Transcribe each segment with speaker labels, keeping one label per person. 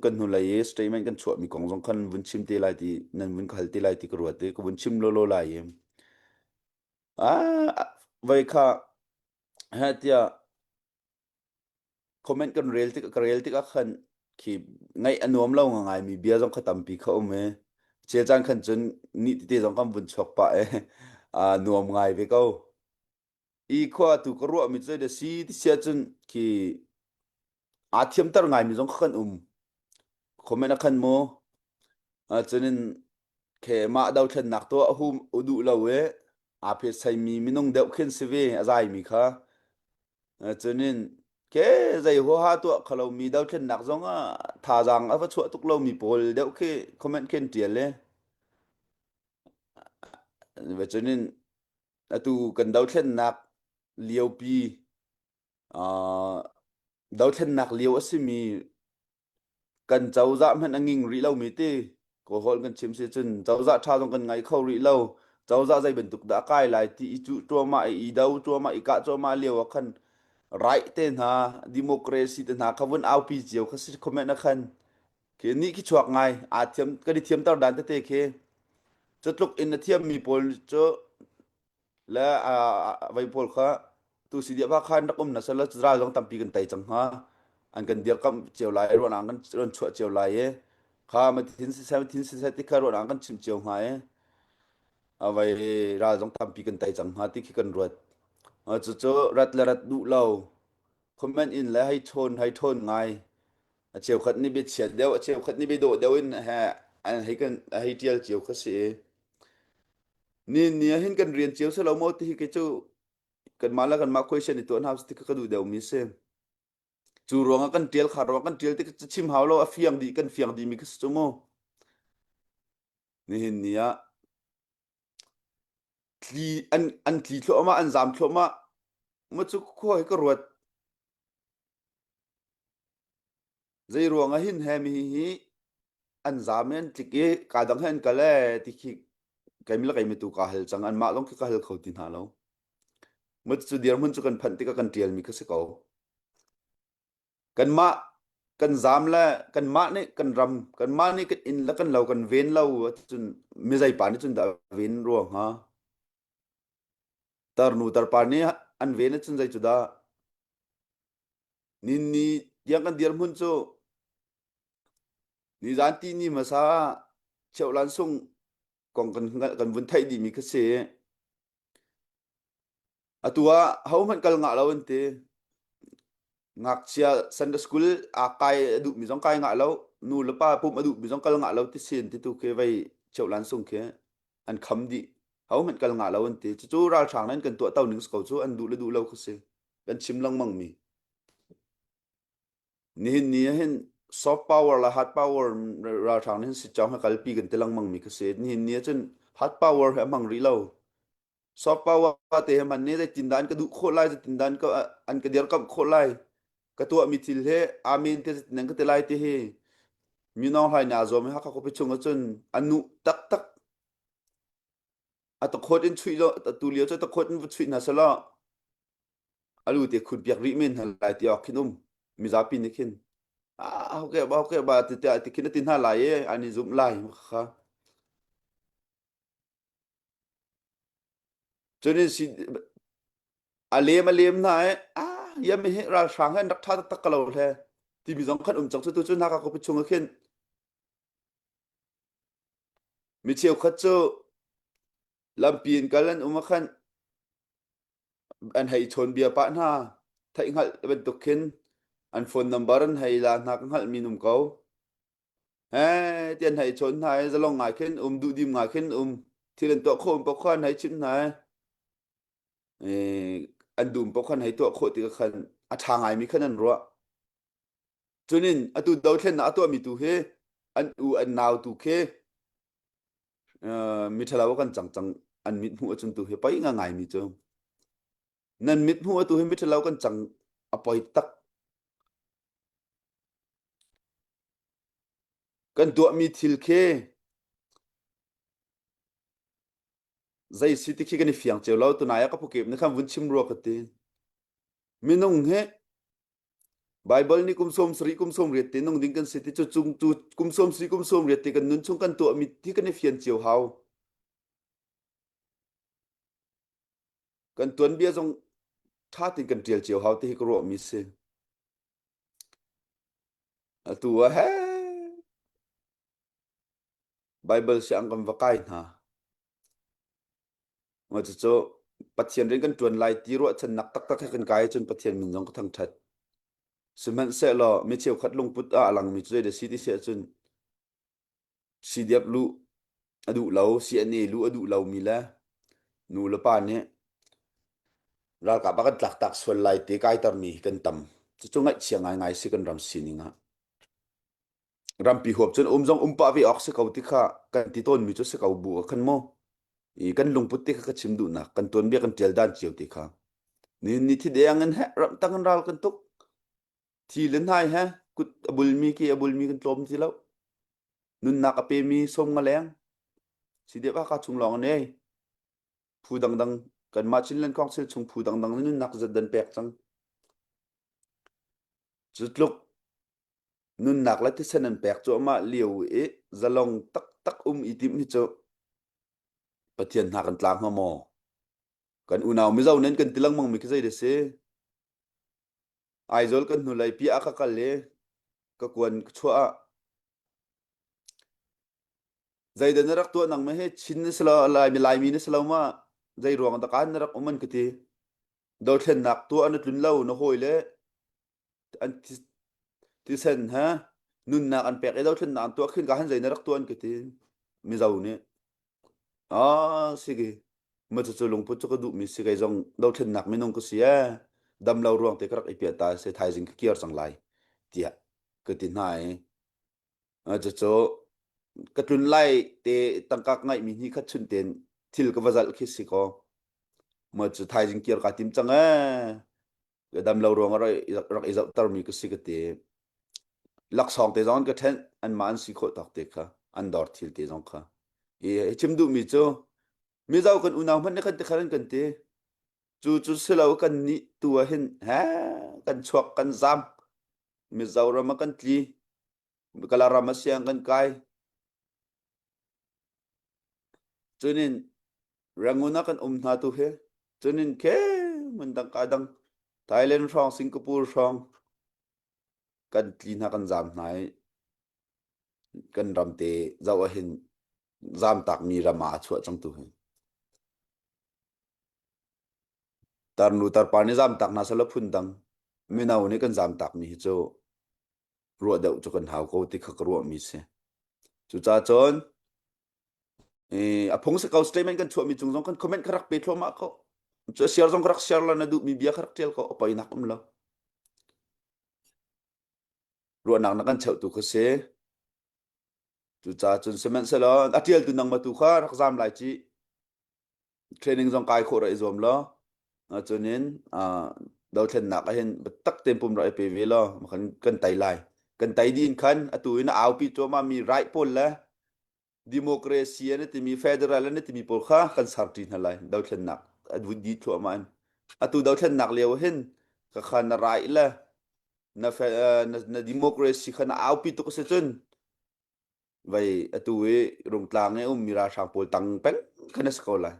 Speaker 1: kan hnulei i statement kan chuahmi kong zong khan vun chim te lai ti nan vun hal te lai ti ka ruat i ka vun chim lolo lai i ah vai kha ha tia comment kan rel tik ka rel tik ah khan khi ngai anuam lo nga ngai mi bia zong kha tampi kha um e che chan khan chun ni tete zong kan vun chok pa e a nuam ngai ve ko i khua tu ka ruah mi cu da si ti sia cun khi a thiam tar ngai mi zong kha kan um khomen a khan mu cunin ke ma do thlen nak to a hu udu lo e a phe sai mi minung deuh khin si ve a zai mi kha cunin ke zai ho ha to khalo mi do thlen nak zong a tha jang a va chua tuk lo mi pawl deuh khi comment ken tial le ve cunin atu kan dothlennak liopi uh, dothlennak lio a simi kan cozah hmanh a nging rih lomi ti ko hol kan chim si cun cozah tha zong kan ngai kho rih lo cozah zei bantuk dah kai lai ti i cu tuama i do tuama i ka tuama lio a khan right te hna democracy te hna khavun aupi cio kha si comment a khan khi ni khi chuak ngai aa thiam kan i thiamter dan tete khi cu tluk in na thiammi pawl cu le vai pawl kha tu si dia khan rak um na sal ra zong tampi kan tai cang ha an kan dir kam cio lai ruan an kan ron chuah cio lai e kha ma thin se se thin se se ti kha ruan an kan chim cio ha e avai ra zong tampi kan tai cang ha ti khi kan ruat cu cu rat le rat du lo comment in le hai chon hai thon ngai A cheukhat nih biachiat deuh, a cheukhat nih biadawh deuh in he an hei kan a hei tial cio kha si i ni ni ah hin kan rian cio si lo maw ti hi kei cu kanmah le kanmah question i tuah hna ti kha ka duh deuhmi si. Cu ruangah kan tial kha ruangah kan tial ti ca chim hau lo a fiang dih kan fiang dihmi kha si cu mu. Nihin ni ah tli an an tli thluahmah an zam thluahmah. Mu cu khua hi ka ruat Zeiruang ahin he mi hi an zam i an tlik i ka dang he an kal e ti khi kaimi le kaimi tu kaa hal cang anmah lawng khi ka hal kho ti hna lo. Mu cu dirhmun cu kan phanh tikah kan ṭialmi ka si ko. Kanmah kan zam le kanmah nih kan ram kanmah nih kan inn le kan lo kan ven lo ahcun mizei pa nih cun dah a ven rua hnga? Tarnu tarpa nih an ven ahcun zei cu dah ninni tiang kan dirhmun cu nizan ti ni hmasa cheuhlan sung kong kan kan vun theih dihmi kha si. Atu ah hohmanh kal ngah lo an ti. ngakchia Sunday school a kai a duh mi zong kai ngah lo nu le pa pum a duh mi zong kal ngah lo ti sin ti tu khi vei cheu lan sung khi an kham di hau hmet kal ngah lo an ti cu cu ralhrang nan kan tuah tau ning sko cu an duh le duh lo khi si kan chim langmang mi nihin ni hin soft power la hard power ralhrang hin si chong ha kalpi kan ti langmang mi khi si nihin ni cun hard power he mang ri lo Sokpawa te he man ne zeitindah an ka duh khawh lai zeitindah an ka an ka dirkamh khawh lai ka tuahmi thil he amen te zeitin an ka ti lai ti hi minong hlai na zuam he hakha khuapi chung ahcun an nu taktak a takhawt in chuih lo tu lio cu takhawt in va chuih hna selaw alu te khun piak rih men hna lai ti ok khin um mizapi nih khin ah hoke ba hoke ba ti ti khin ati hna lai e an i zum lai kha Cun in si a lem a lem hna i ah iam hi ralhrang hi an rak tha taktak ka lo hle timi zong khan um cang cu tu cu hna ka kupi chung ah khin mi cheukhat cu lampi in kal an um ah khan an hei chawn bia pah hna theih hngalh bantuk khin an phone number an hei la hna ka hngalh mi num ko He tian hai chon hna e zalong ngai khin um duh dim ngai khin um thil an tuah khom pa khan hai chim hna e eh, an dum pa khan hai tuah khawh ti ka khan a tha ngai mi khan an ruah chunin atu do thlen na atuah mi tu hi an u an nau tu khi uh, mi thalawa kan chang chang an mit hmu achun tu hi pai nga ngai mi chu nan mit hmu atu hi miṭhalo kan cang a poi tak kan tuahmi thil khi zei si ti khi kan i fiang cio lo tunai ah ka pukip ni khan vun chim rua ka ti minung he Bible ni kum som sari kum som riat ti nung ding kan si ti chu chung chu kum som si kum som riat ti kan nun chung kan tuah mi thi kan i fian cio hau kan tuanbia zong ṭha tein kan ṭial cio hau ti hi ka ruahmi si. Atu ah he Bible siang kan va kai hna. Mà cucu Pathian rian kan ṭuan lai ti ruahchannak taktak he kan kai cun Pathian min zong ka thangṭhat. Sihmanhsehlaw mi cheukhat lungput ah a langmi cu zei da si ti si ahcun Si diap luh a duh lo, si an i luh a duh lomi le nu le pa nih ralkap a kan tlaktak sual lai te kaitermi hi kan tam. Cucu ngaihchia ngaingai si kan ram sining ah. Rampi huap cun um zong um pah ve awk si ko ti kha kan ti tawnmi cu si ko bu a kan mo. I kan lungput ti kha ka chim duh nak, kan tuan bia kan tial dan cio ti kha. Ni ni thi deang in he ram tang in ral kan tuk. Thi le hnai he kut a bulmi ke a bulmi kan tlawm ti lo. Nunnak a pemi som nga leng si dep aka chung lawng ne phu dangdang kanmah Chinland kong sil chung phu dangdang na nunnak zat dan pek cang. Cutluk nunnak la thisen an pek cu ama liu i zalong tak tak um i tim hi cu Pathian hna kan tlang ma maw? Kan unau mizo nen kan tilang mang mi ki zei de si? Aizawl kan hnulei piah ah ka kal i ka kuan ka chuah ah zeidan na rak tuah nang ma hi Chin na si lo Laimi Laimi na si lo ma zei ruang dah kan na rak um an ka ti dothlennak tuah na tlun lo na hawi le an thi- thisen he nunnak an pek i dothlennak an tuah khin ka han zei na rak tuah an ka ti Mizo nih Ah, si ki. Ma cucu lungput cu ka duhmi si kei zong dothlennak minung ka si e. Damlo ruang te ka rak i piah ta se thaizing ka kir cang lai. Tiah ka ti hna i. Ah, cucu ka tlun lai te tangkak ngaihmi ni khat chun ten thil ka va zalh khi si ko. Ma cu thaizing kir ka tim cang e. ka dam lo ruang rak rak i zoh termi ka si ka ti laksawng te zong ka ṭhenh an mah an si khawh tak te kha an dor thil te zong kha i chim duh mi cu mizo kan unau hmanh ne kan te khan kan ti cu cu silo kan ni tu ah hin he kan chuak kan zam mizoram kan tli kala ram asiang kan kai Cunin rangun ah kan um hna tu hi cunin khem an dang ka dang Thailand hrawng Singapore hrawng kan tli hna kan zam hna i kan ram te zoh ah hin zamtak mi ram ah a chuah cang tu hi tarnu tarpa nih zamtak hna sala phun dang mino nih kan zamtak mi hi cu ruah deuh cu kan hau ko ti kha ka ruahmi si cucah cun a phung si ko statement kan chuahmi cung zong kan comment ka rak pe thluahmah ko cu share zong ka rak share la na duhmi bia ka rak tial ko opainak um lo ruahnak na kan cheuh tu kha si cucah cun sihmanhsehlaw a tial tu nang ma tu kha rak zam lai ci training zong kai khawh ra i zuam lo cun in dothlennak ahhin biatak tein pum rak i pe ve law kan tei lai kan tei din khan atu in aupi cuahmah mi right pawl le democracy an timi federal an timi pawl kha kan sarṭi hna lai dothlennak a di thluahmah in atu dothlennak lio hin ka kha na right le na na democracy kha na aupi tuk a si cun Vai atu i rungtlang i ummi ralhrang pawl tang peng khan a si ko lai.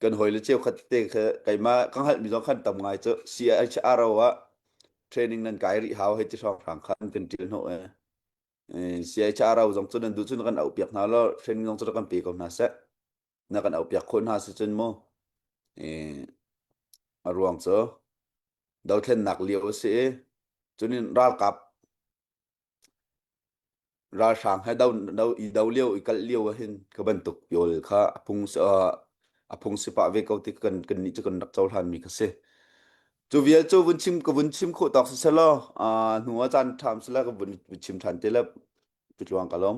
Speaker 1: Kan hawile cheukhat te kha keimah ka hngalhmi zong khan tam ngai cu CIH Aro ah training nan kai rih hau hei ti hrawnghrang kha an kan ṭial hnawh e. Eh, CIH Aro zong cu nan duh cun na kan auhpiak hna law training zong cu rak kan pe ko hna seh. Na kan auhpiak khawh hna si cun mu. Eh, a ruang cu dothlennak lio a si i cun in ralkap ralhrang he i do lio i kal lio ahhin ka bantuk yawl kha a phung a phung si pah ve ko ti kan nih cu kan rak cohlan mi kha si. Cu vial cu vun chim ka vun chim khawh tawk si selaw hnu a caan ṭham sela ka vun chim ṭhan te le cu tluang ka lawm.